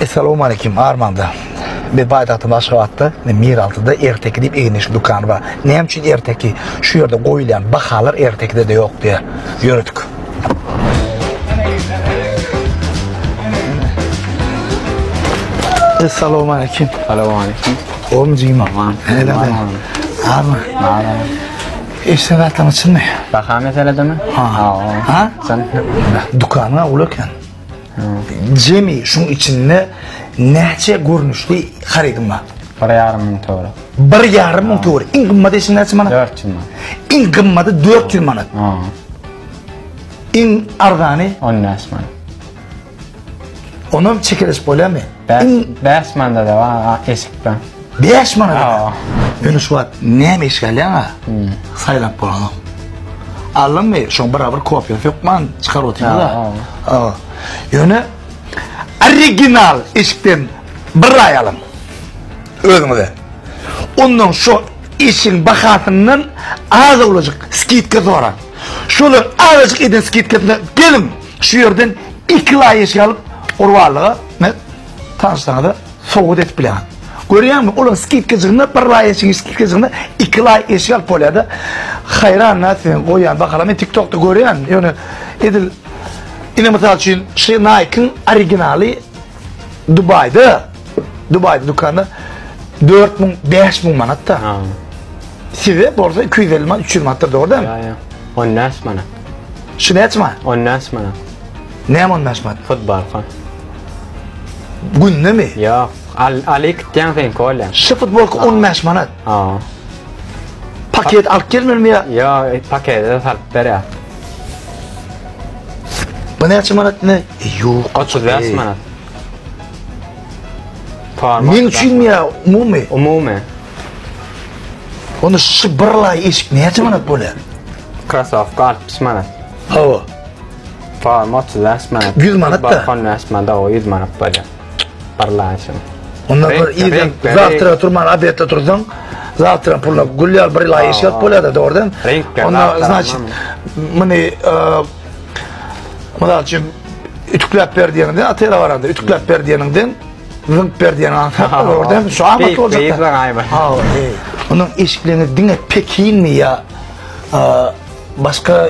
Essalamu aleyküm Armanda. Bir baýdakda Aşgabatda, Miraltyda erteki diýip egindeşli dükany bar. Näme üçin erteki? Şu ýerde goýulýan bahalar ertekide-de ýok diýýär. Ýöredik. Essalamu aleyküm. Salamu aleyküm. Oğlum cima. Aman. Hele Aman. Abi. Aman. İşte zaten açılmıyor. Baka meselede mi? Ha. Ha. Sen. Dükkanına uğrarken. Jemi şuň içinde näçe görnüşli harydyň bar? Bir ýarym müň töwerek. Bir ýarym müň töwerek. Iň gymmaty eşin näçe manat? 400 manat. Iň gymmaty 400 manat. Ha. Iň arzany 15 manat. Onam çekeleşip bolýarmy? Iň 5 manada da bar eşikden. Bäş manada. Ýöne şu wagt näme iş galýaň a? Saýlap bolanok. Alymmy, şoň bir bir kopiýa sökman çykaryp otyňda. Ha. Ýöne original işden bir aý alyň. Özüňize. Ondan şu işiň bahasyndan az olajak skidka soraň. Şolar azajyk eden skidkasyna geliň. Şu ýerden iki laý iş alyp, gurbanlyga Tanyşsaňyza sowgat edip bileňiz. Görýäňmi, olar skidkajygynda bir laý eşigi, skidkajygynda iki laý eşik alyp bolýar-da. Haýran nä siziň goýýan bahalar. Men TikTokda görýän, ýöne edil ine mysal üçin şu Nike-yň originaly Dubaýda, Dubaýda dükanda 4000, 5000 manatda. Ha. Size bolsa 250 manat, 300 manatda dogry dämi? Ýa-ýa. On näçe manat? Şu näçe manat? On näçe manat? Näme on bäş manat? Hut barka. Günde mi? Ýa, al, aly kitýän sen kolýa. Şu futbolka on bäş manat. Ha. Paket alyp gelmeli mi ya? Ýa, e, pakede salyp ber ya. Bu näçe manat ne? E, Ýok. 35 manat. Forma. Men üçin mi ya? Umumy. Umumy. Onda şu bir lay eşik näçe manat bolýar? Krasovka 60 manat. Hawa. Tamam 35 manat. 100 manat da. Balkon 5 manat, o 100 manat bolýar. Barlanşym. Onda bir ýerden zawtra turman obedde tursaň, zawtra puluna gül ýal bir ýyla ýeşil bolýar-da, dogry däl? Onda значит muny mysal üçin ütükläp ber diýende, atera baranda ütükläp ber diýeniňden zynk ber diýen ansa, dogry däl? Şu amat boljak. Ha, onuň eşiklerini diňe Pekinmi ýa başga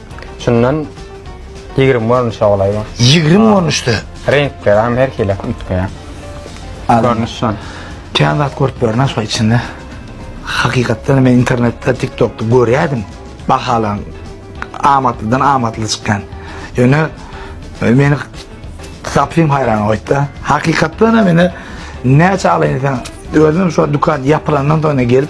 Şundan 20 görnüşe golaý bar. 20 görnüşde. Reňkler hem her hili üýtgeýär. Görnüş şol. Kän zat görüp börün aşa içinde. Hakykatdan men internetde, TikTokda görýärdim. Bahalan amatlydan amatly çykýan. Ýöne e, meni tapym haýran goýdy. Hakykatdan meni näçe alaýyn sen özüm şu dükkan ýapylandan soň gelip